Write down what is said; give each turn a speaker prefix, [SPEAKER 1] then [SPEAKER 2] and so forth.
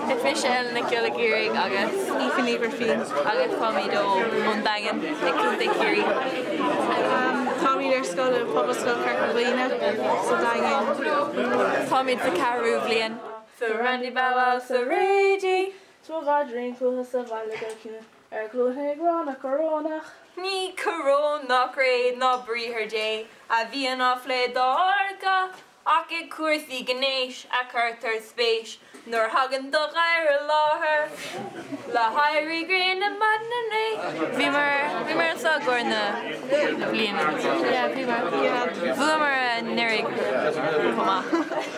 [SPEAKER 1] Is mise Ellen Nic Giolla Iarraidh agus Aoife Ní Ghrifín
[SPEAKER 2] agus táimid
[SPEAKER 1] ó ón Daingean i gContae Chiarraí.
[SPEAKER 2] Táimid ar scoil i Pobalscoil Chorca Dhuibhne sa Daingean. Táimid sa ceathrú
[SPEAKER 1] bliain. Sa Randy Bow Wow sa Rady. Tá gach dream
[SPEAKER 2] fúthu sa bhaile go ciúin. Ar ghlúin ag rá na Corónach. Ní
[SPEAKER 1] coróin ná cré ná Briathar Dé a bhíonn á phlé dár gcath, ach i gcúrsaí gnéis a chuirtear spéis nuair a thagann do ghadhar i láthair. Le héirí gréine maidin inné, bhíomar, bhíomar anseo i gcomhair na bliana, yeah, bhíomar, bhuamar anuraidh chomh maith.